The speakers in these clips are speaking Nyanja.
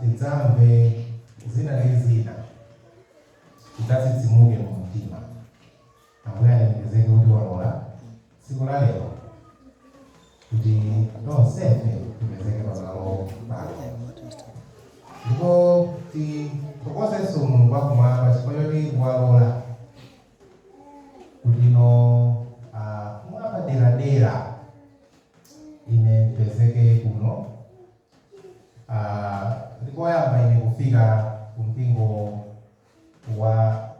tidzamve zina ndi zina tidzatsitsimuke kumtima ambuye alemekezeke kuti walola tsiku la lero kuti tonsefe tipezeke pamalo pano ndipo tithokozenso mulungu wakumwamba chifukwa choti walola kuti no ah, mwapaderadera Ine ndipezeke kuno. Ah, ndi koyamba ine kufika ku mpingo wa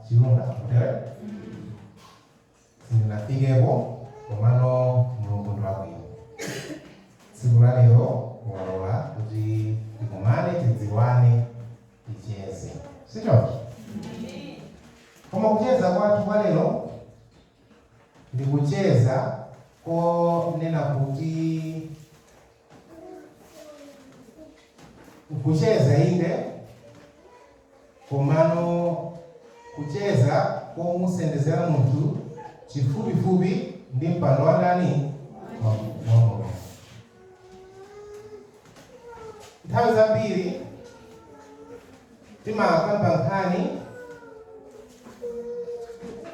Chilinde One. Sindinafikepo, komano Mulungu ndi wabwino. Tsiku la lero walola kuti tikumane, tidziwane, ticheze. Si choncho? Koma kucheza kwathu kwa lero Ndikucheza konena kuti kucheza inde koma kucheza komusendezera munthu chifupifupi ndi mpando wa ndani wa Mulungu. Nthawi zambiri timakamba nkhani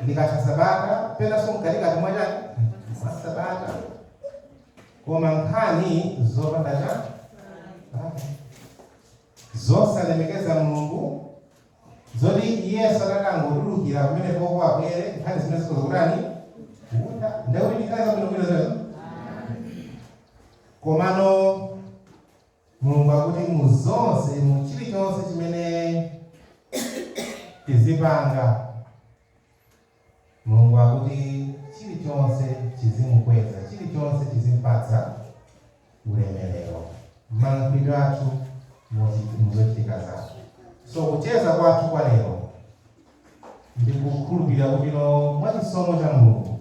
tikatha sabata penanso mkatikati mwa chani mwa sabata koma nkhani zopanda chani zosalemekeza mulungu zoti yesu atakangotulukira pamene apo kuti amve nkhani zimene zikukambidwa ndekuti ndikhale zabwinobwino zezo komano Mulungu akuti mu zonse, mu chirichonse chimene tizipanga, Mulungu akuti chirichonse chizimukweza, chirichonse chizimpatsa ulemerero, malankhulidwe athu, muzochitika zathu. So kucheza kwathu kwa lero ndikukhulupirira kuti no mwa chisomo cha Mulungu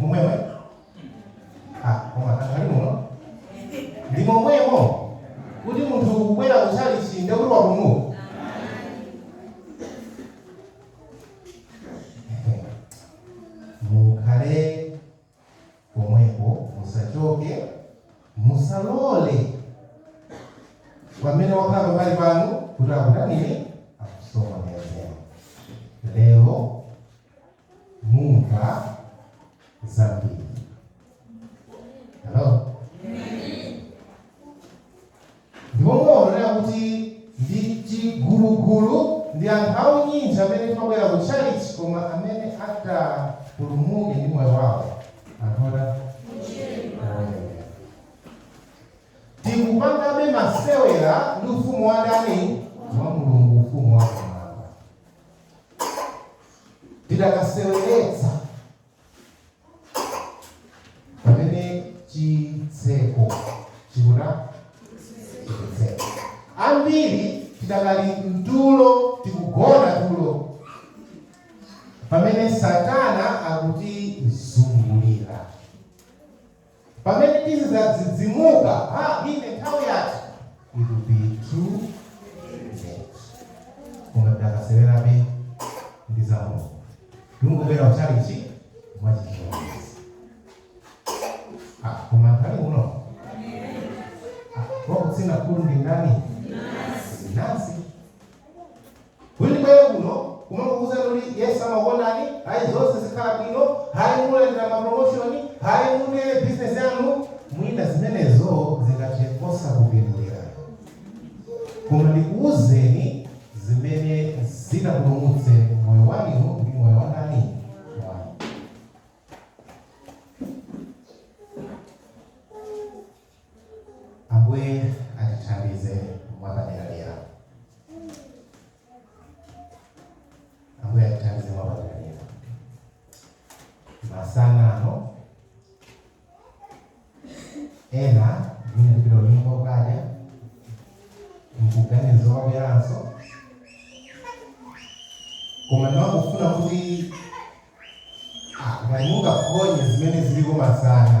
momwemo anthu ali muno ndi momwemo kuti munthu kubwera kuchalichi nde kuti wapumuka mukhale pomwepo musachoke musalole pamene wakhala pambali panu kuti akutanire akusokonezeni lero mumva zambiri hello ndipo mumaonera kuti ndi chigulugulu ndi anthu unyinji amene timabwera kutchalitchi koma amene atapulumuke ndi moyo wawo anthu ochepa tikungopangabe masewera ndi ufumu wa ndani wa mulungu ufumu wa kumwamba tidakaseweretsa pamene chitseko chikuna kutsekeka ambiri tidakali mtulo tikugona tulo pamene satana akutizungulira Pamene tizidzadzidzimuka, ha, ine nthawi yatha it will be too late. Koma tidakasewerabe ndi za Mulungu. Tikungobwera kutchalitchi mwachichonezi. Ah, koma nthawi uno. Ah, wakutsina khutu ndi ndani? Mnansi. Kuti ndibwere kuno kumangokuuzani kuti Yesu amakukondani, ayi zonse zikhala bwino, ayi mulandira ma promotion, ayi mune business yanu, mwina zimenezo zingathe osakupindulirani. Koma ndikuuzeni zimene zitapulumutse moyo wa ine ndi moyo wa ndani? Wanu. Ambuye atithandize mwapaderadera. Ambuye atithandize mwapaderadera. Masana ano ena mwina akapita kunyumba kukadya saganiza zobweranso koma ndimangofuna kuti ah, ngati mungaphonye zimene ziliko masana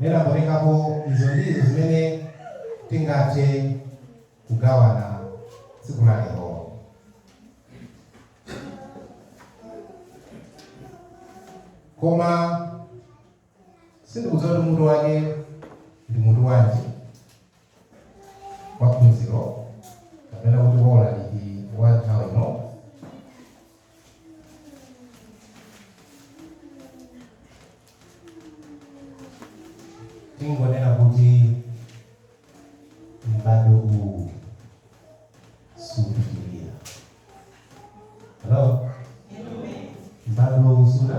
Zinaonekapo izo ndizo zimene tingathe kugawana tsiku la lero. Koma sindikudziwa kuti mutu wake ndi mutu wanji wa phunziro kapena kuti wa ulaliki wa nthawi ino, tingonena kuti m'bado uwu supitirira halo m'bado uwu suta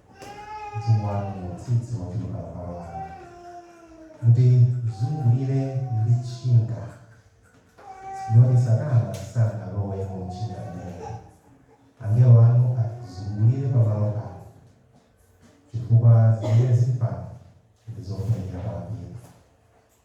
mzimu wanu mutsitse wochuluka pa malo ano mutizungulire ndi tchinga kuti satana sangalowe mu tchinga limeneli angelo anu atizungulire pa malo ano chifukwa zimene zili pano ndi zofunikira kwambiri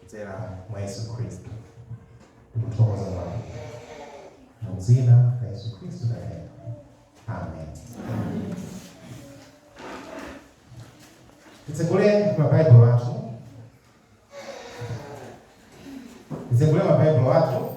kudzera mwa Yesu Khristu. Tikuthokoza Mulungu. Mu dzina la Yesu Khristu tapemphera. Amen. Titsegule mabaibulo athu. Titsegule mabaibulo athu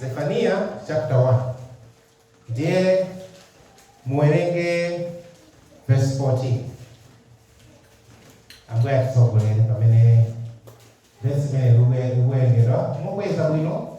Zefaniya chapter 1 ndiye muwerenge verse 14 ambuye atitsogolere pamene verse imene likuwerengedwa mukweza bwino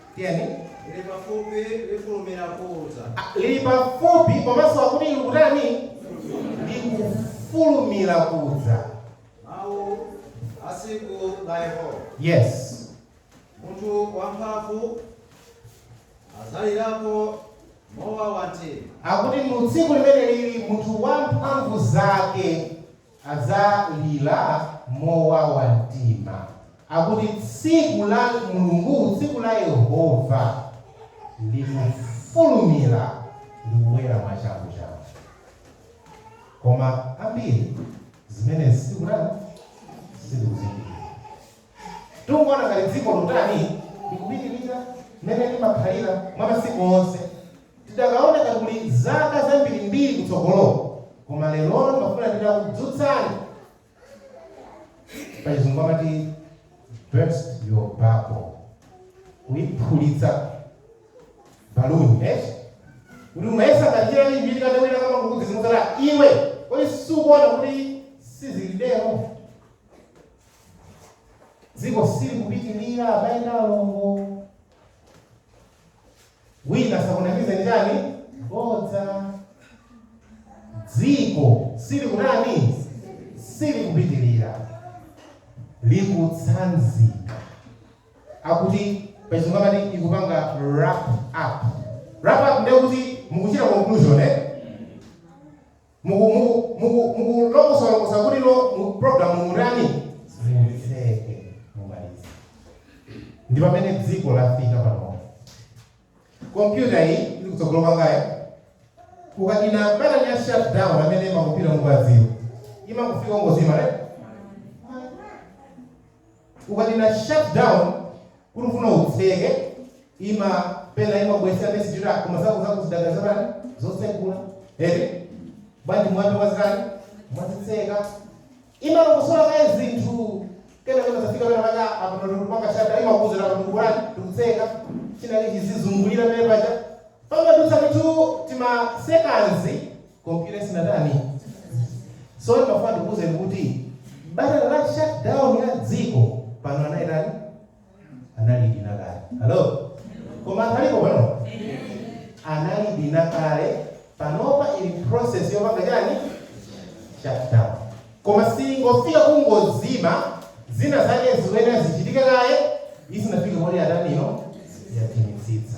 Tiyeni. Lili pafupi, lifulumira kudza. Ah, lili pafupi komanso akuti likutani? Likufulumira kudza. Mawu a tsiku la Yehova. Yes. Munthu wamphamvu adzalirapo mowawa mtima. Akuti mu tsiku limeneli munthu wamphamvu zake adzalira mowawa mtima. Akuti tsiku la Mulungu, tsiku la Yehova, likufulumira ndi kubwera mwachanguchangu. Koma ambiri zimenezi sitikutani, sitikuzindikira. Tikuona ngati dziko likutani likupitirira mmene limakhalira mwa masiku onse. Tidakaoneka kakuli zaka zambirimbiri mtsogolomo koma lerolo ndimafuna nditakudzutsani. Pachizungu amati burst your bubble. Kuiphulitsa baluni eti. Kuti umayesa ngati chilali chimene chikati wina akamakudzidzimutsa iwe. Kodi sukuona kuti sizili tero? Dziko silikupitirira abale ndi alongo. Wina asakunamize ndi chani? Bodza. Dziko sili kunani? Silikupitirira. Likutsanzika. Akuti pachizungu amati ikupanga wrap up. Wrap up ndiye kuti mukuchita conclusion eh? Muku muku muku mukulongosola longosola kuti no mu program mutani mutseke mumalize. Ndi pamene dziko lafika pano. Kompyuta iyi ili kutsogolo kwangayo ukadina batani ya shut down amene makompyuta mukuwadziwa imakufika ungozima right ukadina shut down kuti ufuna utseke ima pena imabwesa message koma zako zako zidakali zotani zotsegula eti bwanji mwina mwazitani mwazitseka imalongosola kaye zinthu kena kena zafika pena paka apa matundu panga shada imakuuzira apa tsekulani tikutseka chinali chizizungulira pena paja pamadutsa mitu tima sekanzi Komputayo sinatani? Sono ndimafuna ndikuwuzeni kuti batani la shutdown ya dziko pano anayitani analidina kale. Hello? Koma anthu alipo pano? Analidina kale panopa ili process yopanga chani shutdown. Koma siingofika kungozima zina zake zikuyenera zichitike kaye zisanafike moti yatani ino yatimitsitsa.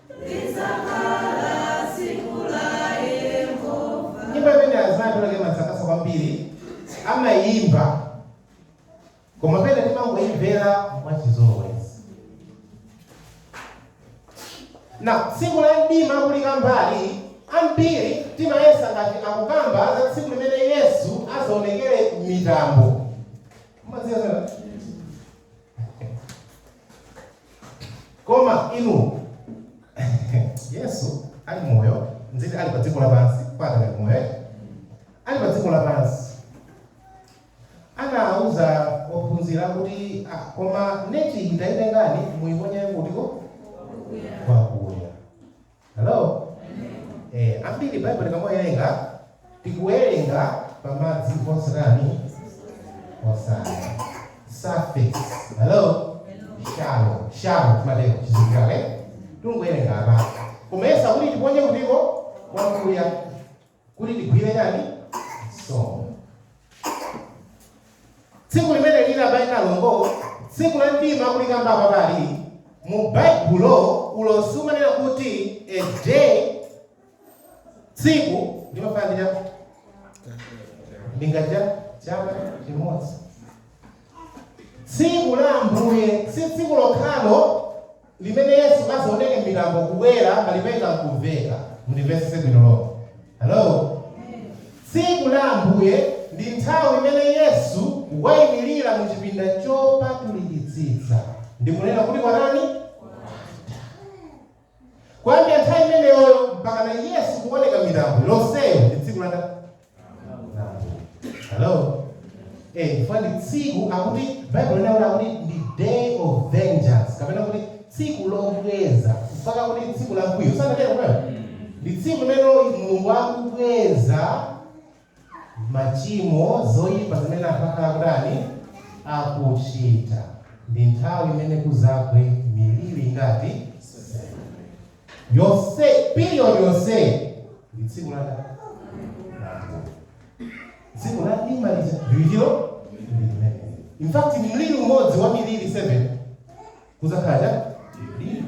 Nyimbo imene azimayi pena pake imatisangalatsa kwambiri amayimba koma pena timangoimvera mwachizolowezi ya tsiku la mdima kulikambali ambiri timayesa ngati akukamba za tsiku limene yesu azaonekere m'mitambo Mumadziwa zina? koma inu yesu ali moyo nditi ali pa dziko lapansi mpaka ali moyo eh? ali pa dziko lapansi anauza ophunzira kuti ah, koma neti itengeni muyiponye kutiko kwakuya Hello? Eh, ambiri Baibulo tikamawerenga tikuwerenga pa madzi osatani osati surface. Hello? Shallow. Shallow kumatero chizikale. Tungowerenga apa. Koma akuti tiponye kutiko kwakuya. kuti tigwire chani nsomba tsiku limene linatchulidwalo ndi tsiku la mdima kulikambali pali mu baibulo ulosi umanena kuti a day tsiku limafanana ndi chaka chimodzi tsiku la ambuye si tsiku lokhalo limene Yesu adzaoneke m'mitambo kubwera ndi lipenga n'kumveka. Mundimvetsetse bwino lomwe. Halo! Tsiku la Ambuye ndi nthawi imene Yesu waimirira mu chipinda chopatulikitsitsa ndi kunena kuti kwatani? Kwatha. Kuyambira nthawi imeneyoyo mpakana Yesu kuoneka m'mitambo, lonseyo ndi tsiku latani? Hello? Eh, chifukwa ndi tsiku akuti Bible linanena kuti ndi day of vengeance kapena kuti tsiku lobweza kapena kuti tsiku la mkwiyo sanatero mkwiyo ndi tsiku limene mulungu akubweza machimo zoyipa zimene anthu akhala kutani akuchita ndi nthawi imene kuzagwe miliri ngati Yonse, period yonse ndi tsiku la ndani? La Ambuye. Tsiku la mdima lija likubwera ndi limeneli. In fact, mliri umodzi wa miliri 7 kuzakhala chimdima.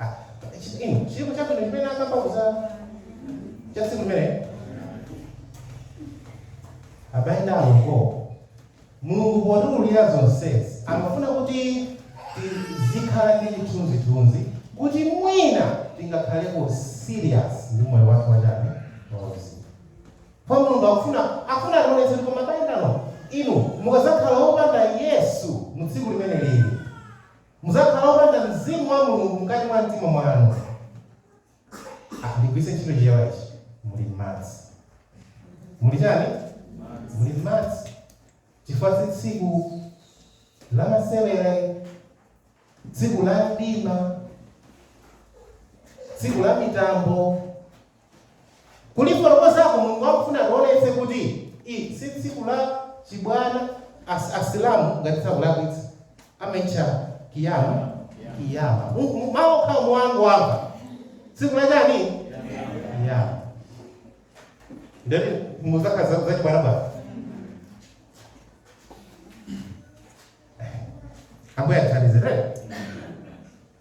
Ah, chi- inu chilipo chabwino chimene akambako cha tsiku limeneli abale ndi alongo mulungu potiululira zonsezi amafuna kuti tizikhala ndi chithunzithunzi kuti mwina tingakhaleko serious ndi moyo wathu wachani wauzimu kwa mulungu akufuna akufuna ationetse kuti koma abale ndi alongo inu mukazakhala opanda yesu mu tsiku limene lili Mudzakhala opanda Mzimu wa Mulungu mkati mwa mtima mwanu. Ah, ndigwiritse ntchito chichewa ichi. Muli m'madzi. Muli chani? Muli m'madzi. Chifukwa si tsiku la masewera, tsiku la mdima, tsiku la mitambo. kulifotokozako mulungu akufuna ationetse kuti i si tsiku la chibwana as, asilamu ngati sindikulakwitsa amaitcha kiyama kiyama mawu okhawo mukangowamva tsiku la chani kiyama ndati mudziwa kuti si za- zachibwanabwana ambuye atithandizire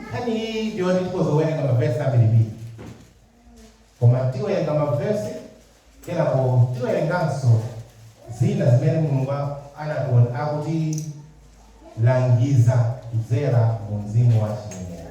Nkhani iyi ndi yoti tikhoza kuwerenga mavesi ambirimbiri, koma tiwerenga mavesi kenako tiwerenganso zina zimene Mulungu akutilangiza kudzera mu mzimu wa chinenero.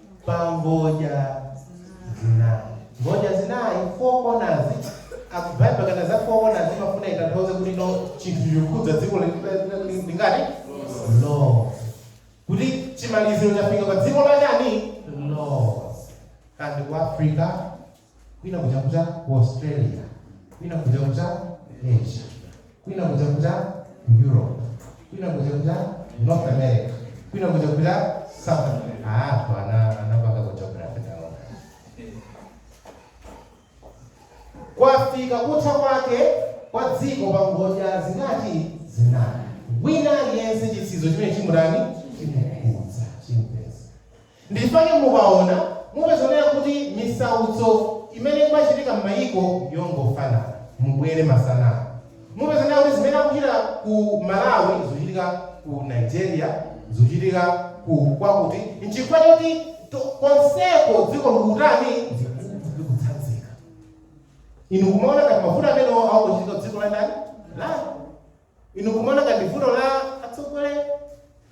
pa ngodya zinayi ngodya zinayi four corners Bible ikamanena za four corners imafuna itanthauze kuti chinthu chikukhudza dziko li- li- li- lingati lo kuti chimaliziro chafika pa dziko la chani lo kandi ku africa kwina kuja kuja ku australia kwina kuja kuja asia kwina kuja kuja ku europe kwina kuja kuja north america kwina kuja kuja south america ah anthu ana anapanga ku geography taona kwafika kutha kwake kwa dziko pa ngodya zingati zinayi wina aliyense chitsizo chimene chimutani chimukudza chimpeza Ndichpake mukaona mupeza kunena kuti misautso imene ikuchitika mmayiko ndiyongofanana mubwere masana ano mupeza kunena kuti zimene zikuchitika ku Malawi zikuchitika ku Nigeria zikuchitika ku kwakuti nchifukwa choti to konseko dziko likutani likutsanzika inu kumaona ngati mavuto amenewo akungochitika kudziko la ndani lanu. Inu mukumaona ngati ndi vuto la atsogoleri?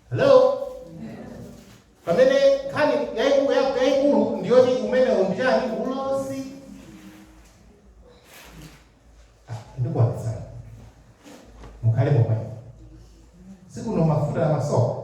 Hello? Pamene nkhani yaiku- ya- yaikulu ndi yoti umenewo ndi chiyani ulosi. Ah, Ndikuwapezani. Mukhale momwe. Sikuno mafuta la masoka.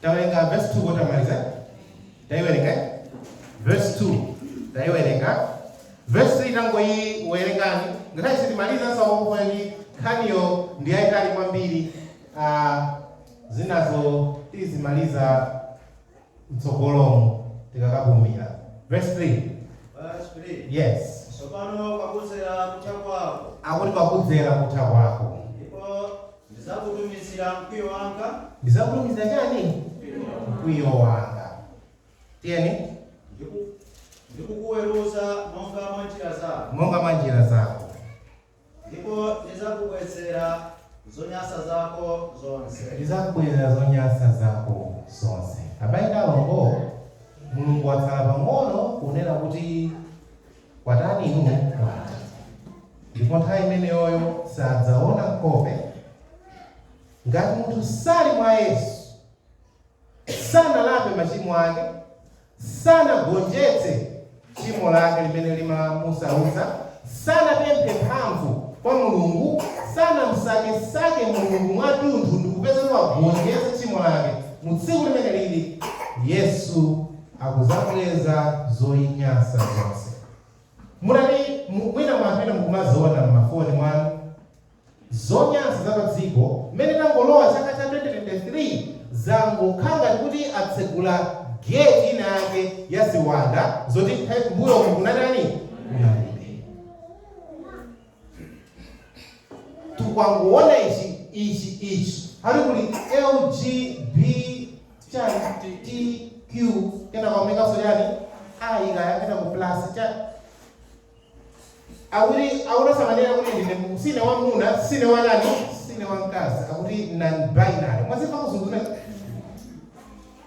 Tawerenga verse 2 sitinamalize. Taiwerenga. Verse 2. Taiwerenga. Verse 3 tangoiwerengani. Ngakhale sitimaliza sasa wongo ndi nkhaniyo ndi yayitali kwambiri. Ah zinazo tizimaliza mtsogolomo tikakapumira. Verse 3. Verse 3. Yes. Sopano pakudzera kutha kwako. Akuti pakudzera kutha kwako. Ndipo Ndidzakutumizira mkwiyo wanga. Ndidzakutumizira chiyani? Mkwiyo wanga. Tiyeni. Ndi kukuweruza monga mwa njira zako. Monga mwa njira zako. Ndipo ndidzakubwezera zonyansa zako zonse. Ndidzakubwezera zonyansa zako zonse. Abale ndi alongo, Mulungu watsala pang'ono kunena kuti. Kwatha inu mwaona. Ndipo nthawi imeneyoyo sadzaona nkhope. Ngati munthu sali mwa Yesu, sanalape machimo ake, sanagonjetse tchimo lake limene limamusautsa, sanapemphe mphamvu kwa Mulungu, sanamsakesake Mulungu mwatunthu ndikupeza kuti wagonjetsa tchimo lake, mu tsiku limeneli Yesu akudzabweza zonyansa zonse. Munatani mwina mwapena mukumaziona mmafoni mwanu zonyansa za padziko mmene tangolowa chaka cha 2023 zangokhala ngati kuti atsegula gate ina yake ya ziwanda zoti nthawi mmbuyomu kunalitani kunalibe. tikungoona izi izi izi akuti kuli lg b chani tq kena kaonekanso chani ayi kaya kena ku plus chani awiri awunasamanira kuti ndine mu- sine wamuna sine wanani sine wamkazi akuti non binary mwazimva kuzunzuna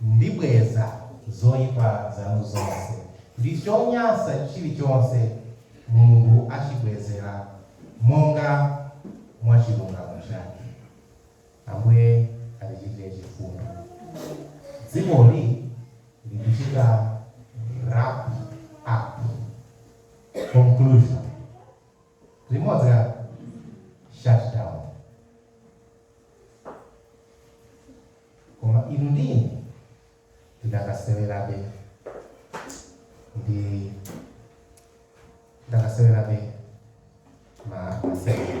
Ndibweza zoipa zanu zonse, ndi chonyansa chilichonse Mulungu achibwezera monga mwa chilungamo chake. Ambuye atichitire chifundo. Dzikoli likuchita wrap up. Conclusion. limodzi la shutdown koma inu ndi ine tidakasewerabe ndi tidakasewerabe ma masewera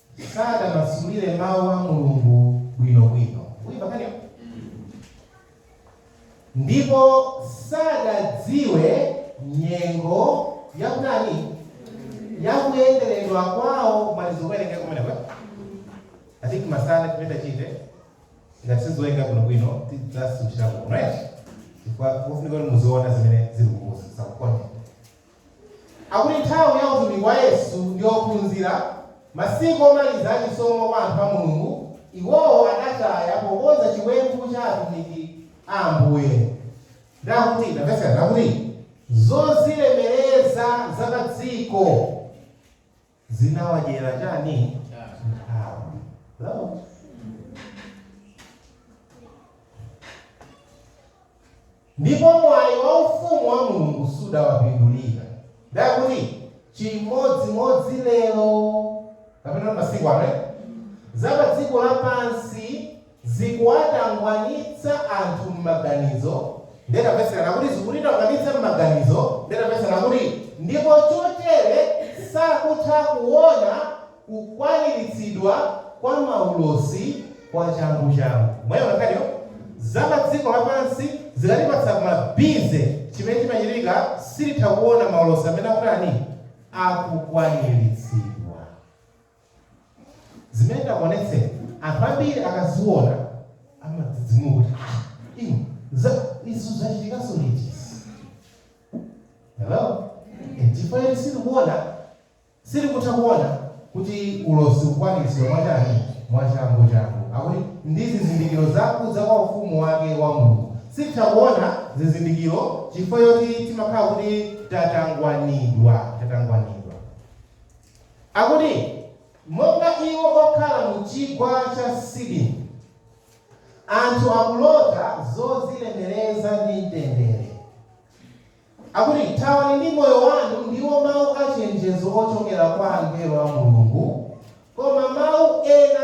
sadamasulire Mawu a Mulungu bwinobwino, mukuimva nkhaniyo? Ndipo sadadziwe nyengo yakutani yakuyenderedwa kwawo kumalizo kuwerengeka kumeneko atiki masana chimene tachite ngati sizoyenga bwinobwino tidzasutira kuno right chifukwa mufunika kuti muziona zimene ziri kukusa sakukonde Akuti nthawi ya utumiki wa Yesu ndi ophunzira, masiku omaliza a chisomo kwa anthu a Mulungu, iwowo adataya pokonza chiwembu cha atumiki a Ambuye. Nde akuti, tamvetserani, akuti zozilemereza za padziko. zinawadyera chani nthawi Hello? ndipo mwayi wa ufumu wa mulungu sudawapindulire nde akuti chimodzimodzi lero kapena masiku ano za pa dziko lapansi zikuwatangwanitsa anthu m'maganizo, Nde tapezekanso kuti zikutitangwanitsa m'maganizo, Nde tapezekanso kuti ndipo chotere sakutha kuona kukwaniritsidwa kwa maulosi kwa changu changu. Mwaiona nkhaniyo? Za pa dziko lapansi zikatipatsa ma busy chimene chimachitika sititha kuona maulosi amene akutani, akukwaniritsidwa. zimene ndakuonetsazi anthu ambiri akaziona amadzidzimuka kuti ah inu izizi zachitikanso liti hello Eh, chifukwa choti sitikuona sitikutha kuona kuti ulosi ukukwanitsidwa mwachani mwachangu changu akuti ndi zizindikiro zakudza kwa ufumu wake wa mulungu sititha kuona zizindikiro chifukwa choti timakhala kuti tatangwanidwa tatangwanidwa Akuti, Monga iwo okhala mu Chigwa cha Sidimu, anthu akulota zodzilemereza ndi mtendere. Akuti, Thawani ndi moyo wanu, ndiwo mawu a chenjezo ochokera kwa angelo a Mulungu, koma mawu ena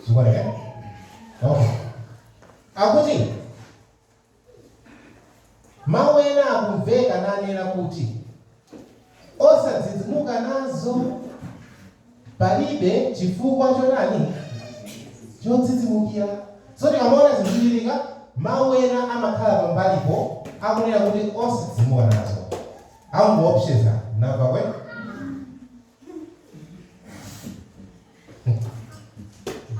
Chifukwa chake. Okay. Akuti mawu ena akumveka nanena kuti osadzidzimuka nazo palibe chifukwa chotani chodzidzimukira so tikamaona zikuchitika mawu ena amakhala pambalipo akunena kuti osadzidzimuka nazo akungoopseza nawa kwe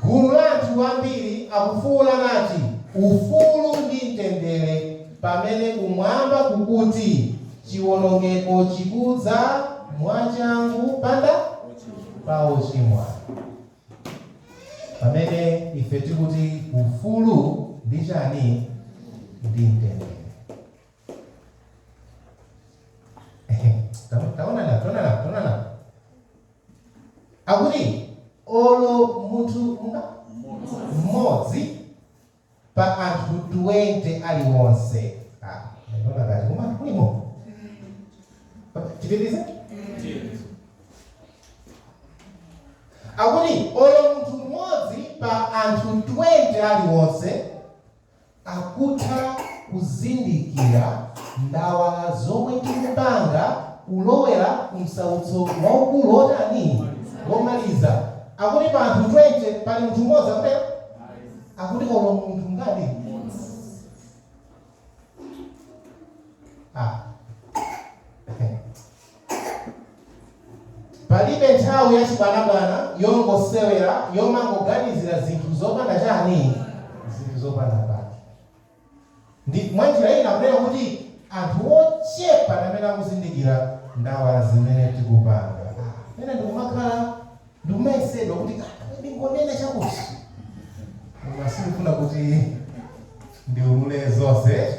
gulu la anthu ambiri akufuula nati ufulu ndi mtendere pamene kumwamba kukuti chiwonongeko chikudza mwachangu pa anthu ochimwa pamene ife tikuti ufulu ndi chani ndi mtendere akuti olo munthu mmodzi pa anthu 20 aliwonse Ah, ndikuona ngati koma kulimo tipitirize akuti olo munthu mmodzi pa anthu 20 aliwonse akutha kuzindikira ndawala zomwe tikupanga kulowera ku msautso waukulu wotani? Womaliza. Akuti pa anthu 20 pali munthu mmodzi, akutero? Akuti olo munthu ngati mmodzi. Ah. Palibe nthawi ya chibwanabwana, yongosewera, yomangoganizira zinthu zopanda chani, zinthu zopanda pake. Mwa njira ina kunena kuti anthu ochepa ndi amene akuzindikira ndawala zimene tikupanga. Ah, pena ndikumakhala, ndikumayesedwa kuti ah, ndingonena chakuti, koma sindikufuna kuti ndiulule zonse.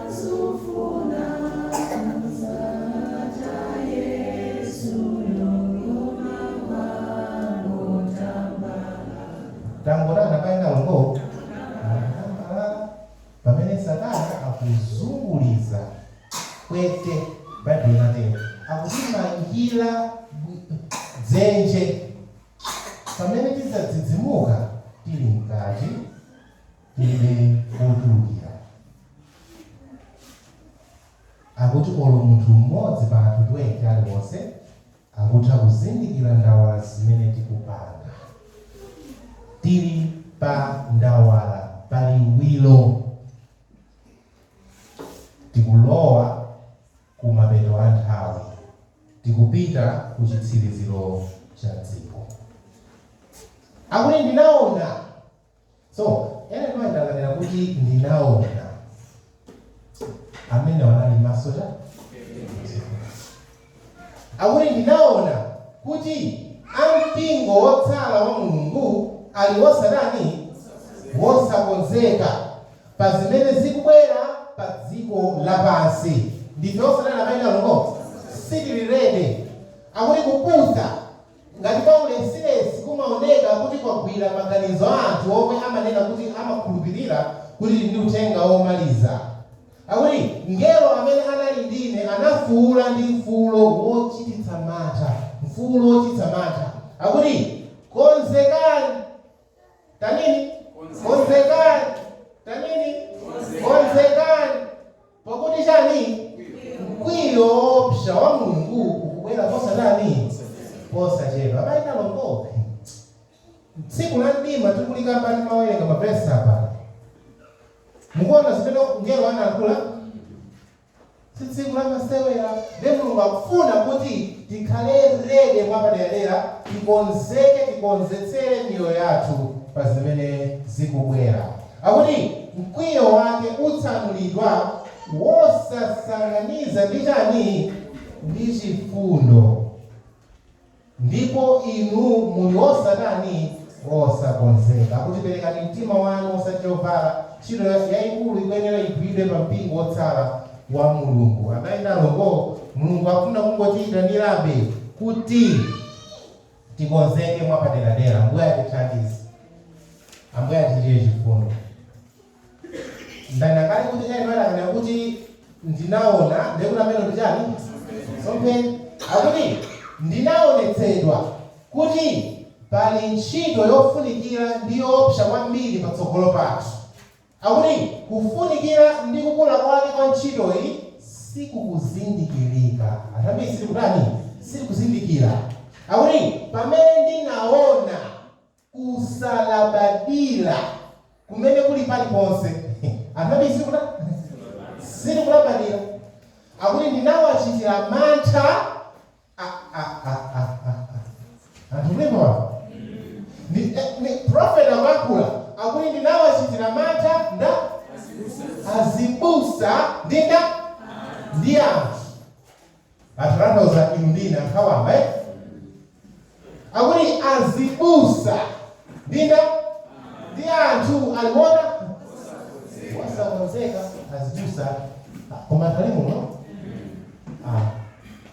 Tangoonani abale ndi alongo, mwatambalala pamene Satana akuzunguliza pwete, Baibulo linatero, akutimangira dzenje pamene tidzadzidzimuka tili mkati. ife ochulukira. Akuti olo munthu mmodzi pa anthu 20 aliwonse akutha kuzindikira ndawala zimene tikupanga. Tili pa ndawala pa liwiro. Tikulowa ku mapeto a nthawi. Tikupita ku chitsiriziro cha dziko. Akuti ndinaona. Tsono Ellen White akanena kuti, Ndinaona. Amenewo anali maso cha? Akuti ndinaona kuti ampingo wotsala wa Mulungu ali wosatani wosakonzeka pa zimene zikubwera pa dziko lapansi. Ndife osatani? Abale ndi alongo sitili rede akuti kupusa Ngati kwaulesi-lesi kumaoneka kuti kwagwira maganizo a anthu omwe amanena kuti amakhulupirira kuti tili ndi uthenga womaliza, akuti, Mngelo amene anali ndi ine anafuula ndi mfuulo wochititsa mantha, mfuulo wochititsa mantha, akuti, Konzekani! Tanini! Konzekani! Tanini! Konzekani! Pakuti chani? Mkwiyo woopsa wa Mulungu ukubwera posatani? Posachedwa. Abale ndi alongo, tsiku la mdima tikulikamba ndimawerenga mavesi apa. Mukuona zimene mngelo anayankhula? Si tsiku la masewera. Ndiye Mulungu akufuna kuti tikhale rede mwapaderadera, tikonzeke, tikonzetsere miyoyo yathu pa zimene zikubwera. Akuti mkwiyo wake utsanulidwa wosasanganiza ndi chani? Ndi chifundo. Ndipo inu muli wosatani? Wosakonzeka. Akuti perekani mtima wanu osati chovala. Ntchito ya, yaikulu ikuyenera igwiridwe pa mpingo wotsala wa Mulungu. Abale ndi alongo, Mulungu akufuna kungotiyitanirabe kuti. Tikonzeke mwapaderadera. Ambuye atithandize. Ambuye atichitire chifundo. Ndanena kale kuti Ellen White akanena kuti ndinaona ndiye kuti amenewo ndi chani? Masomphenya. Akuti ndinaonetsedwa kuti pali ntchito yofunikira ndi yoopsa kwambiri patsogolo pathu. Akuti kufunikira ndi kukula kwake kwa ntchitoyi sikukuzindikirika. Anthu ambiri sitikutani? Sitikuzindikira. Akuti pamene ndinaona kusalabadira kumene kuli paliponse, anthu ambiri sitikutani? Sitikulabadira. Akuti ndinawachitira mantha Anthunimwa ni, eh, ni prophet amakula akuti ndinawachitira mantha nda azibusa ndinda ndi anthu atalantauza inu ndina nkhawamba eh? akuti azibusa ndinda ndi anthu aliwona wasakonzeka azibusa koma tali muno ah.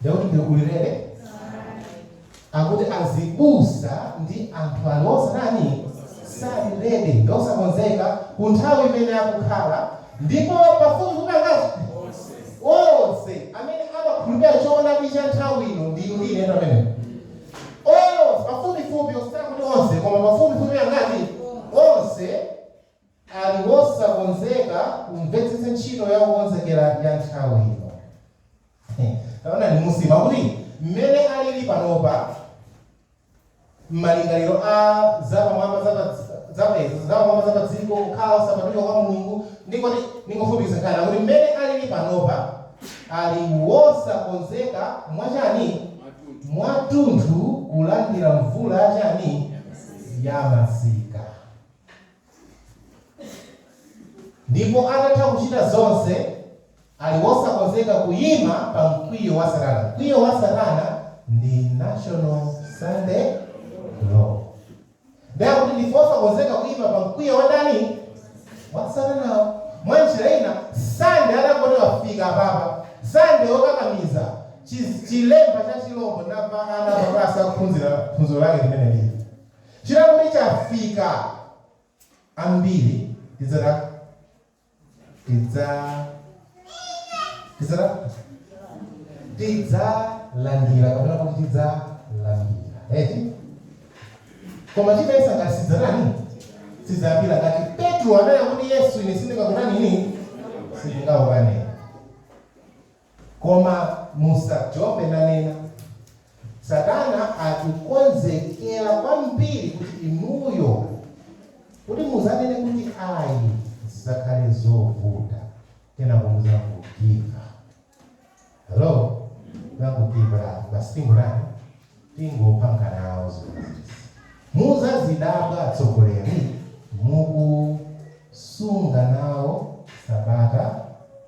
Ndakuti ndikulirabe akuti azibusa ndi anthu ali osatani sali ready ndi osakonzeka ku nthawi imene akukhala ndipo pafupifupi angati onse amene amakhulupirira choonadi cha nthawi ino ndi inu ndi ine pamene onse pafupifupi osati kuti onse koma pafupifupi angati onse ali wosakonzeka kumvetsetsa ntchito ya kukonzekera ya nthawi ino. Taonani munsimu, akuti, Mmene aliri panopa, malingaliro a zapamwamba za pa, za pa, zapamwamba za pa dziko, kukhala osapatulika kwa Mulungu, ndingoti, ndingofupikitsa nkhani, akuti, Mmene aliri panopa, ali wosakonzeka mwachani? Mwatunthu kulandira mvula yachani? Yamasika. Ndipo atatha kuchita zonse, ali wosakonzeka kuyima pa mkwiyo wa Satana. Mkwiyo wa Satana ndi National Sunday Law. Ndiye akuti ndife osakonzeka kuyima pa mkwiyo wa ndani? Wa Satanawo. Mwa njira ina, Sunday atangoti wafika apapa, Sunday wokakamiza, chi, chilembo cha chilombo, ndapeza ana pa class akuphunzira phunziro lake limenelii. Chili kuti chafika ambiri tidzata tidza tidzata tidzalandira kapena kuti tidzalandira eti koma timayesa ngati sidzatani sitidzalandira ngati petro ananena kuti yesu ine sindingakutani ine sindingakukane Koma musasewere naye. Satana akukonzekera kwambiri kuti inuyo kuti muzanene kuti ayi zizakhale zovuta kenako muzangogiv'apa. Hello? Muzangogiv'apa, basi tingotani? Tingopanga nawo zimenezi. Muzazidabwa atsogoleri mukusunga nawo sabata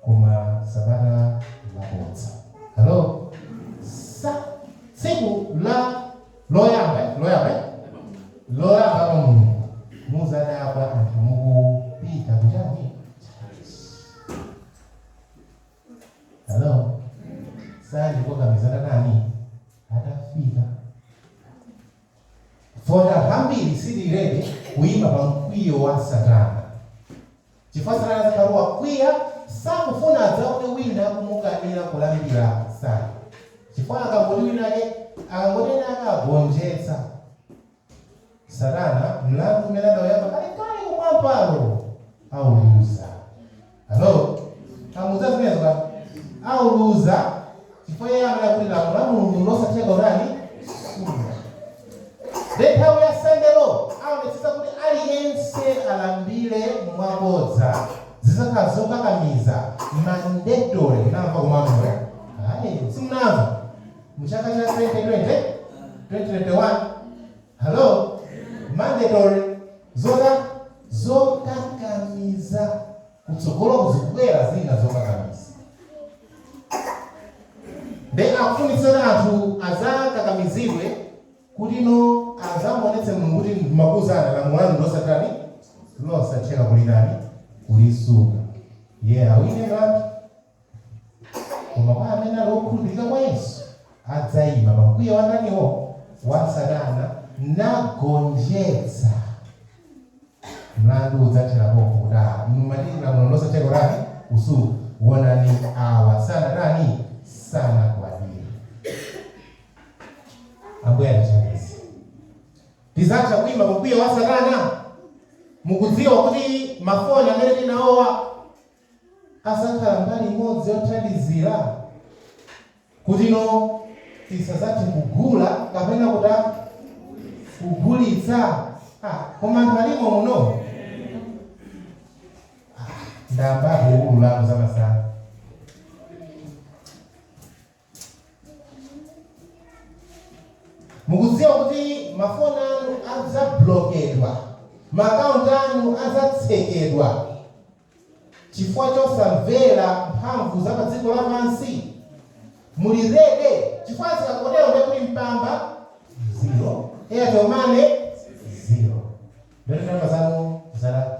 koma sabata labodza. Hello? Tsiku loyamba eh? Loyamba eh? Loyamba pa mlungu muzadabwa anthu mukupita kuchani? Hello? Sande wokakamiza atatani? Atafika. Poti ambiri sitili ready kuima pa mkwiyo wa Satana. Chifukwa Satana zikatero wakwiya sakufuna adzaone wina kumukanira kulambira Sande. Chifukwa akangoti wina ake akangonena akagonjetsa Satana, mlandu umene adauyamba kalekale kumwambako, auluza. Alo? Tamuuza zimenezo kale? Auluza chifukwa iye amanena kuti lamulo la Mulungu nlosatheka kutani? Kusunga. Ndiye nthawi ya Sande Lo aonetsetsa kuti aliyense alambire mwabodza. Zidzakhala zokakamiza, mandatory. Munamva komweko? Ai, simunamva. Mu chaka cha 2020, 2021, Hello? Mandatory, zotani? Zokakamiza. Kutsogoloku zikubwera zina zokakamiza. Nde akufunitsitsa kuti anthu adzakakamizidwe kutino adzamuonetse Mulungu kuti ndimakuuzani lamulo lanu ndilosatani? Losatheka kulitani? Kulisunga. Iye awine mlandu. Koma kwa amene ali okhulupirika kwa Yesu, adzaima pa mkwiyo wa ndaniwo? Wa Satana, nagonjetsa. Mlandu udzathera pompo kuti, Ah, inu mumati ndi lamulo losatheka kutani? kusunga. Wonani, awa sanatani? sanagwadire. Ambuye atithandize. Tidzatha kuima pa mkwiyo wa Satana? Mukudziwa kuti mafoni amene tili nawowa adzakhala mbali imodzi yothandizira kutino tisazathe kugula kapena kutani kugulitsa ah, koma anthu alimo muno ah, ndayamba kuululako zamasana mukudziwa kuti mafoni anu adzablokedwa maakaunti anu adzatsekedwa chifukwa chosamvera mphamvu za pa dziko lapansi muli ready chifukwa zikatero nde kuli mpamba zero airtel money zero phone number zanu zala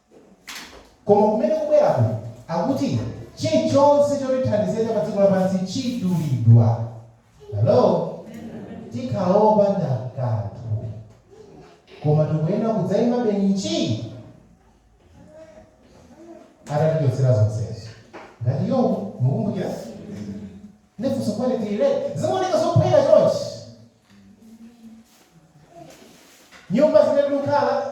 Koma kumene kukubwerako, akuti, chirichonse chotithandiza cha padziko lapansi chidulidwa. Hallo! Tikhala opanda kanthu. Koma tikuyenera kudzaimabe nji atatichotsera zonsezo. Ngati Yobu, mukumbukira? Ndi funso kodi tili ready? Zimaoneka zophweka chonchi. Nyumba zimene tikukhala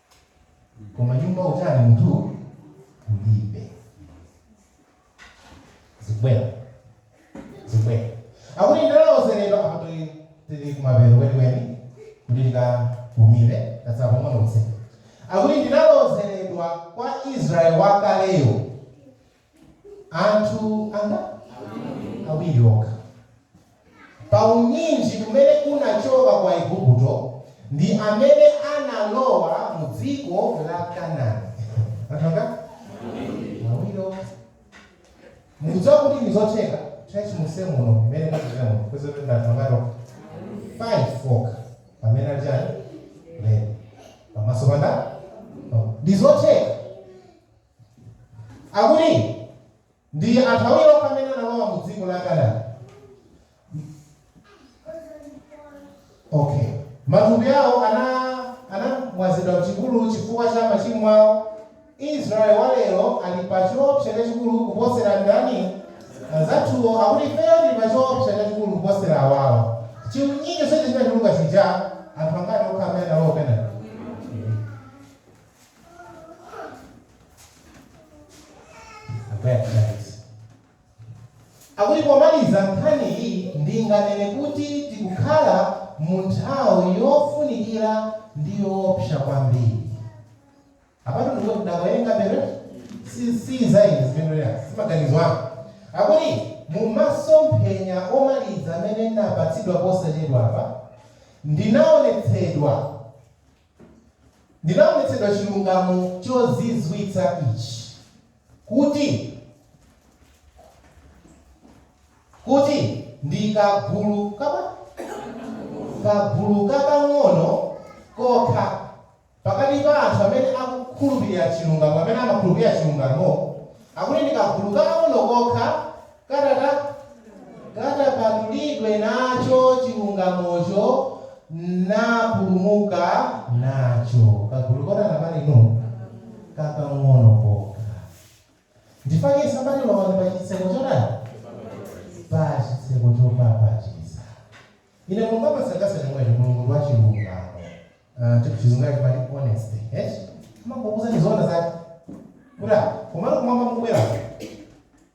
koma nyumba utali munthu kulibe zikubwera zikubwera akuti ndinalozeredwa apa tili tili kumapeto kwenikweni kuti tikapumire tatsala pang'ono kutseka akuti ndinalozeredwa kwa israeli wakaleyo Anthu anga? Awiri okha. Pa unyinji umene unachoka ku Aigupto ndi amene analowa mu dziko la Kanani. Anthu anga? Awiri okha. Mukudziwa kuti ndi zotheka church muse muno imene tachitira muno kwezi kuti ndi anthu angati okha? Five okha. Pamene ali chani? Lero. Pamaso panda? Ndi zotheka. Akuti ndi anthu awiri okha amene analowa mu dziko la Kanani. Okay. Matupi awo ana anamwazidwa m'chipululu chifukwa cha machimo awo. Israel wa lero ali pa choopsa chachikulu kuposera ndani? Anzathuwo akuti ifeyo tili pa choopsa chachikulu kuposera awawa. Chiunyinyo chija chinatuluka chija, anthu angati okha amene analowa Kanani? akuti pomaliza nkhani iyi ndinganene kuti tikukhala mu nthawi yofunikira ndi yoopsa kwambiri apatu ndikuti ndikuwerenga abale si zaine zimenezi si maganizo anga akuti mu masomphenya omaliza amene ndinapatsidwa posachedwa apa ndinaonetsedwa Ndinaonetsedwa chilungamo chozizwitsa ichi, kuti, kuti ndi kagulu ka, kagulu kakang'ono kokha pakati pa anthu amene akukhulupirira chilungamo, amene amakhulupirira chilungamo, akuti ndi kagulu kakang'ono kokha kadzapatulidwe nacho chilungamocho, napulumuka nacho kagulu kotani, abale inu? Kakang'ono kokha. Chifukwa chake amati lowani pa chitseko chotani, pa chitseko chopapatiza. Inde Mulungu amasangalatsa chomwecho, Mulungu ndi wachilungamo. Uh, chizungu chimati honesty, yes? Amakuuza ndi zoona zake. Kuti komano kumwamba mukubwera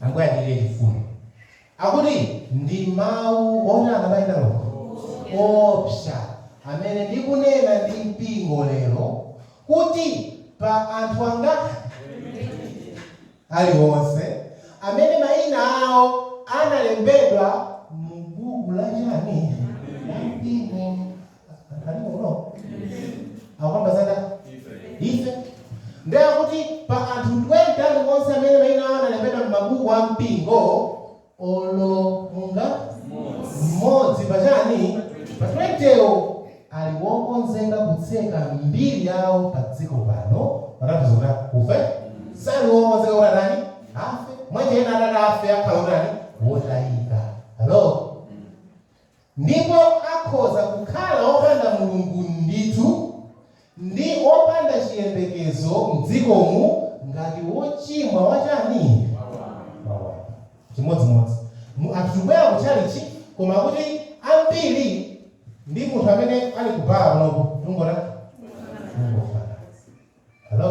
Ambuye achitire chifundo. Akuti ndi mawu otani abale ndi alongo? Oopsa amene ndikunena ndi mpingo lero kuti pa anthu angapo aliwonse amene maina awo analembedwa mu buku la chani? La mpingo. Kalipo kuno. Akukamba za ndani ife ndiye kuti pa anthu 20 aliwonse amene mayina awo analembedwa m'mabuku a mpingo olo mungo mmodzi pa chani pa 20wo ali wokonzeka kutseka mbiri yawo pa dziko pano patanthauza kuti akufe sali wokonzeka kuti atani afe mwanjira ina atati afe akhala otani wotayika halo Ndipo akhoza kukhala opanda Mulungu ndithu, ndi opanda chiyembekezo mdziko mu, ngati wochimwa wachani? wamba. Chimodzimodzi, mu, anthu tikubwera ku tchalitchi, koma kuti ambiri ndi munthu amene ali ku bala kunoko, tikungotani? Tikungofanana. Hallo?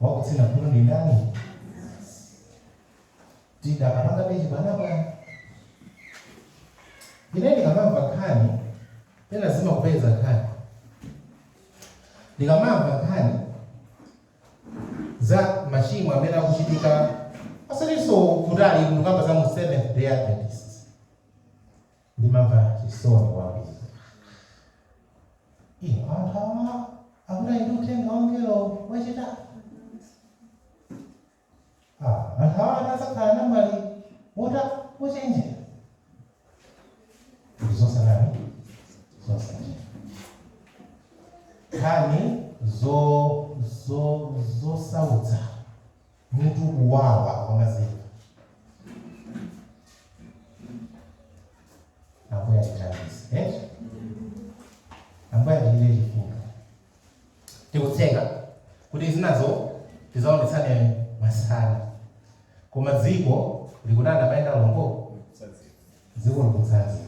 wakutsina khutu ndi mnansi tidakapanga bechi panopa ine ndikamamva nkhani pena zimakupeza nkhani ndikamamva nkhani za machimo amene akuchitika asalinso kutali tikukamba za mu seventh day adventist Ndimamva chisoni kwambiri. Inu, anthu awa akuti ali ndi uthenga wa mngelo wachitatu. Ah, anthu awa ati adzakhala namwali wotani wochenjera. Ndi zosautsa zosautsa. Nkhani zo zo zosautsa. Mutu ukuwawa wamadziku. Ambuye atithandize. Eh? Ambuye atichitire chifundo. Tikutseka kuti zinazo tizaonetsane masana. Koma dziko likutana mayenda lombo dziko likutsanzika.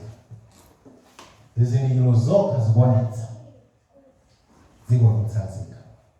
Zizindikiro zokha zikuonetsa dziko likutsanzika.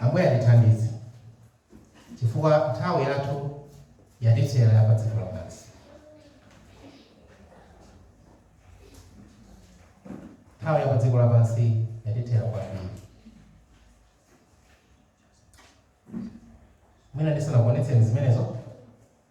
Ambuye atithandize chifukwa nthawi yathu yatithera ya padziko lapansi. Nthawi ya padziko lapansi yatithera kwambiri. Mwina ndisanakuonetseni zimenezo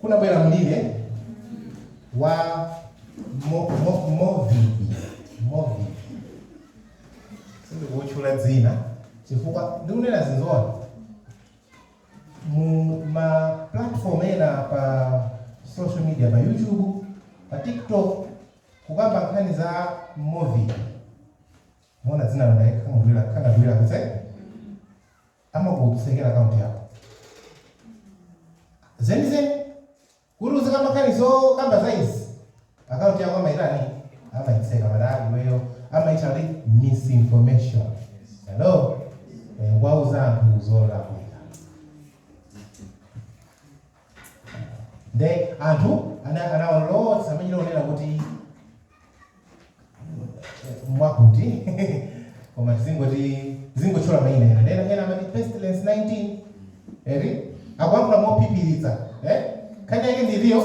kunabwera mliri wa mo- mo- movivi movivi sindikukutchula dzina chifukwa ndikunena zinthuzo mu ma platform ena pa social media pa youtube pa tiktok kukamba nkhani za movivi muona dzina langaekhangadwira khangadwira kunja amakusekera akaunti yako zenizeni kuti uzikamba nkhani zokamba za izizi akaunti yako amaitani amaitseka mara iweyo amaita kuti misinformation hello Eh, wauza anthu zolakwika nde anthu ana- anawalowetsa amene onena kuti mwakuti koma tizingoti tizingotchula maina ena nena ena amati pestilence 19 eti akuyankhula mophiphiritsa eh? nkhani yake ndiliyo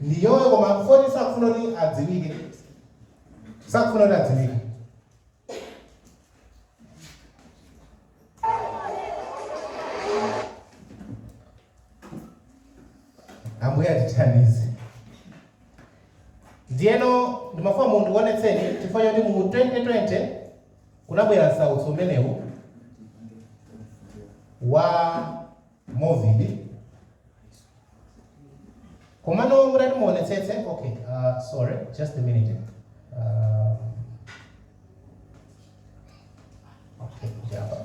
ndiyoyo koma pofuna sakufuna kuti adziwike sakufuna kuti adziwike ambuye atithandize ndiyeno ndimafuna ndikuwonetseni chifukwa choti mu 2020 kunabwera msautso umenewu wa movid komano mutati muonetsetse okay uh, sorry just a minute um, okay apa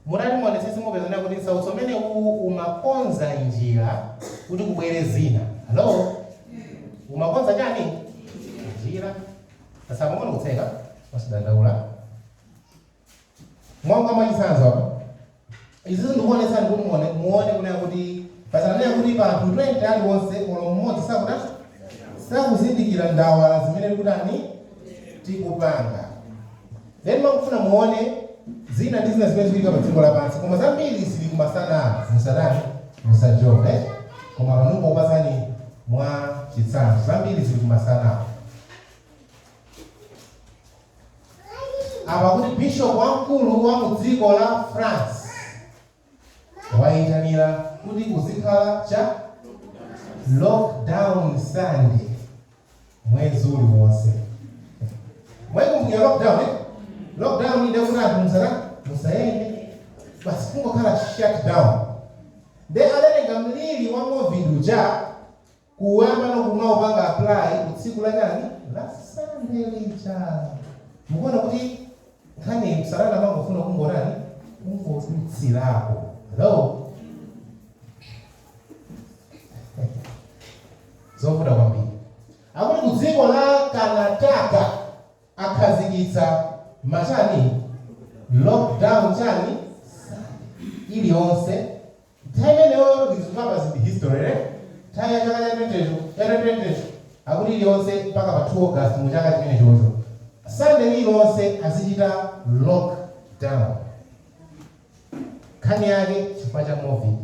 Mutati muonetsetse mupezanso kuti msautso umene uwu umakonza njira kuti kubwere zina. Hello? Umakonza chani? Njira. Tsatsa pang'ono kutseka, osadandaula. Monga mwachitsanzo apa, Izizi ndikuonetsani kuti muone muone kunena kuti paja ananena kuti pa anthu 20 aliwonse olo mmodzi sakutani sakuzindikira ndawa la zimene tikutani tikupanga then ndimafuna muone zina ndi zina zimene zikuchitika pa dziko lapansi koma zambiri zili kumasanaku musatani musajombe koma panopo ndikupatsani mwa chitsanzo zambiri zili kumasanaku apa akuti bishopu wamkulu wa mu dziko la france wayitanitsa kuti kuzikhala chani lockdown sunday mwezi uliwonse mwaikumbukira lockdown eh? lockdown inde kuti anthu musatani musayende basi kungokhala shut down nde adatenga mliri wa movid uja Koma pano kumaupanga apply ku tsiku la chani? La Sunday lija. Mukuona kuti nkhaniyi satana amangofuna kungotani? Kungodutsirapo. Hello? Zovuta kwambiri. Akuti ku dziko la Karnataka akhazikitsa ma chani lockdown chani iliyonse Nthawi imeneyoyo ndi zikukambazi ndi history eti? Nthawi ya chaka cha 20 cho, cha 2020 cho? Akuti iliyonse mpaka pa 2 August mu chaka chimenechocho Sunday lililonse azichita lock down. Nkhani yake chifukwa cha Covid.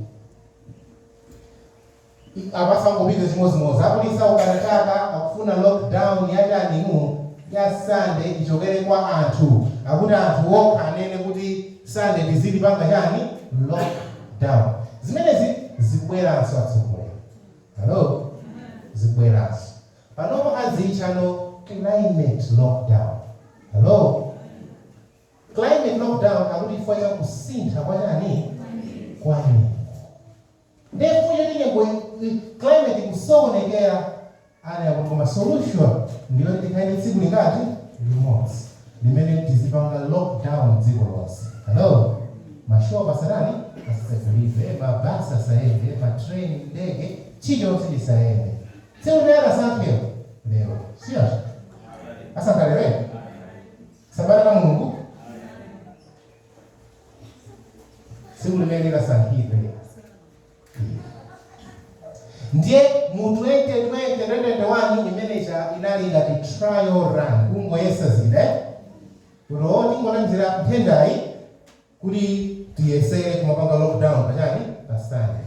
Apa zangopita chimodzimodzi akuti aukana chaka akufuna lock down yachani inu ya sunday ichokere kwa anthu akuti anthu okha anene kuti sunday tiziti panga chani lock down zimenezi zikubweranso atsogoleri hallo zikubweranso panopa azitcha climate lock down hallo climate lock down akuti chifukwa cha kusintha kwa chani kwa nyengo. Ndiye chifukwa choti nyengo i- i- climate ikusokonekera anayamba kuti koma solution ndiyoti tikhale ndi tsiku ngati limodzi limene tizipanga lockdown dziko lonse hello mashop asatani asitsegulidwe mabasi asayende matrain ndege chilichonse chisayende tsiku limene anasankhidwa lero sikuti asankha sabata la mulungu tsiku limene likasankhidwe ndiye mu 2020 imene ija inali ngati trial run kungoyesa chabe kuti o tingonamizira nthendayi kuti tiyesere kumapanga lockdown pachani pa Sunday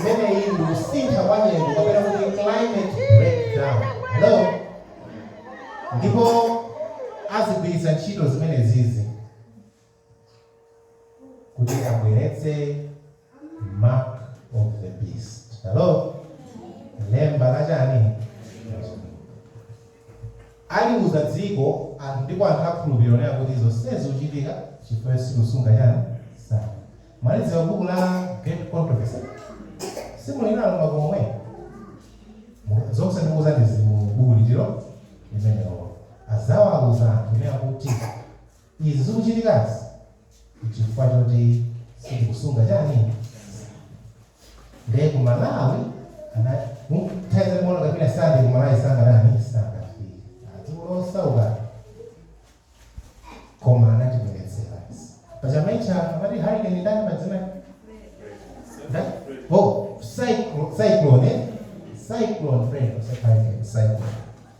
Imeneyi ndi kusintha kwa nyengo kapena kuti climate lockdown. Hello? Ndipo azigwiritsa ntchito zimenezizi kuti abweretse mark of the beast. Hello? Lemba la chani? Aziuza dziko, anthu ndipo anthu akhulupirira kunena kuti zonsezi zikuchitika chifukwa choti sakusunga chani Sabata. Mwalidziwa buku la Great Controversy? Simuli nalo mmakomo mwanu? Zonse ndikuuzani zili mu buku limenelo limenelolo. Azawauza anthu kunena kuti izi zikuchitikazi nchifukwa choti sitikusunga chani? Ndiye ku Malawi anati muthaze mola kapena sande ku Malawi sangatani sangafike. Dziko losauka koma anatibweretsera. Pa Jamaica amati hurricane ndani madzina? Ndani? Oh, cyclone, cyclone, eh? cyclone Freddy, cyclone, cyclone.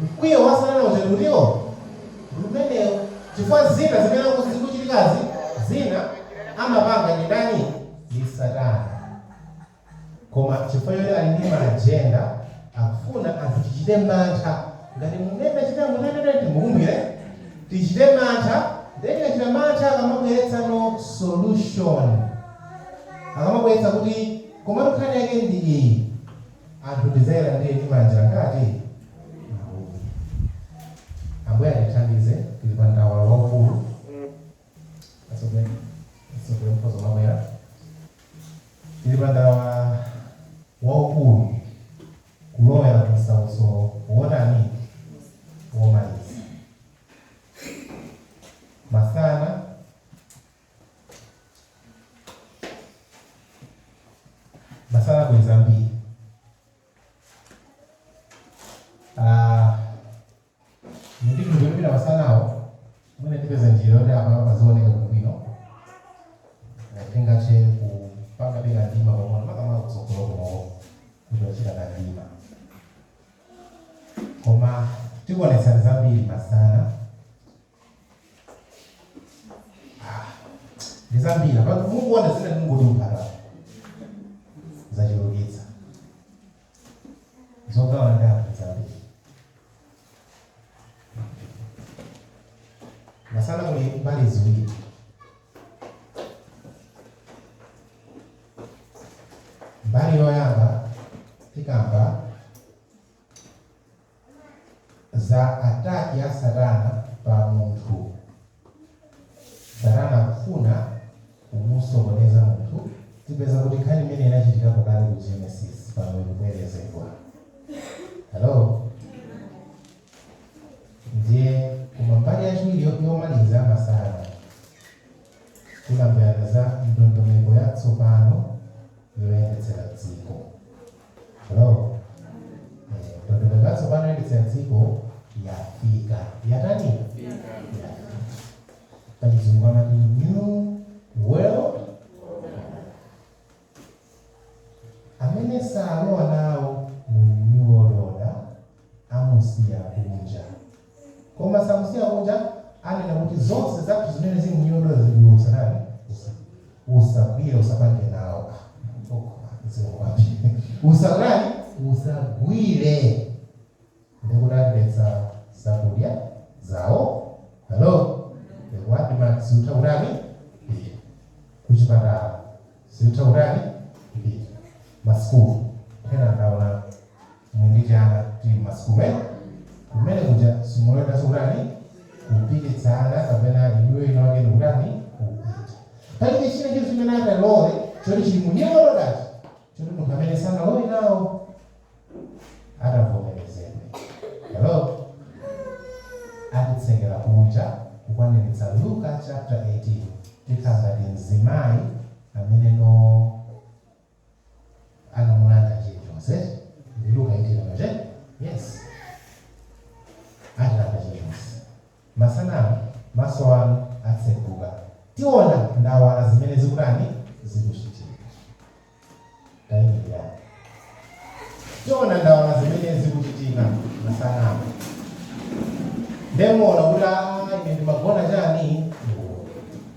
Mkwiyo wa Satana ujatu ndiwo umenewu chifukwa zina zimene zikuchitikazi zina amapanga ndani? Ndi Satana koma chifukwa choti ali ndi ma agenda akufuna anthu tichite mantha ngati mmene tinachitira mu 1990 mukumbukira? Tichite mantha ndiye tikachita mantha akamabweretsa no solution akamabweretsa kuti komatu nkhani yake ndi iyi. Anthu tidzayalandire ndi manja angati? Awiri. Ambuye atithandize, tili pa ndawala waukulu. Atsogoleri mukhoza kumabwera. Tili pa ndawala waukulu kulowera ku msautso wotani? Womaliza. Masana masana kuli zambiri Ah, ndi ndikuimira masanawo mwina tipeza njira yoti apa pazioneka bwino tingathe kupanga beka ndima pang'ono makamaka kutsogolo kunowo kuti achita kamdima koma tikuonetsani zambiri masana ndi zambiri pano mukuona zina ndingotumphata zachulukitsa zogawa ndatu zambiri masana kuli mbali ziwiri mbali yoyamba tikamba za attack ya satana pa munthu satana akufuna kumusokoneza munthu tipeza kuti nkhani imene inachitikapo kale ku genesis pano ikubwerezedwa hello ndiye koma mbali yachiwiri yo- yomaliza ya masana kunamvera za ndondomeko yatsopano yoyendetsera dziko Hello. Eh, Ndondomeko yatsopano yoyendetsera dziko yafika. Yatani? Yafika. Pachizungu amati new world amene salowa nawomo mu new world order amusiya kunja Koma samusiya kunja, anena kuti zonse zathu zimene zili mu new order zili iwe usatani, usagwire, usapange nawo, ah okoma mzimu kwambiri, usakutani, usagwire, ndekuti atiletsa zakudya zawo, hello, the word mat siutha kutani kupita, kuchipatala siutha kutani kupita, masukulu ena ndaona. Mungojayana timasukuwe kumene kuja simuloledwanso kutani kupititsana kapena inuyo ina wake ndikutani kupita. Palibe chinachi chimene angalole choti chili mu nyimbo nodazi choti munthu amene sanalowe nawo atavomerezedwe. Hello? Atitsekera kunja kukwaniritsa Luka chapter 18 tikhala ngati mzimayi amene no. anamulanda chilichonse ndi luka eitini pache yes atilanda chilichonse masanamu maso anu atseguka tiona ndawala zimene zikutani zikuchitika tayimilirani tiona ndawala zimene zikuchitika masanamu nde muona kuti aa ine ndimagona chani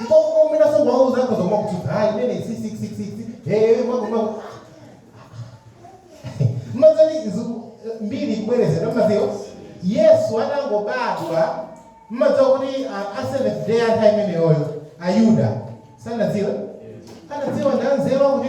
Nkokukomera so wauza akhoza kumakutsutsa hayi imene 666 hey makumaku mazani mbiri kubwerezera maziyo yesu atangobadwa mumadziwa kuti a- a seventh day anthu ameneyoyo ayuda sanadziwe anadziwa ndanzeru kuti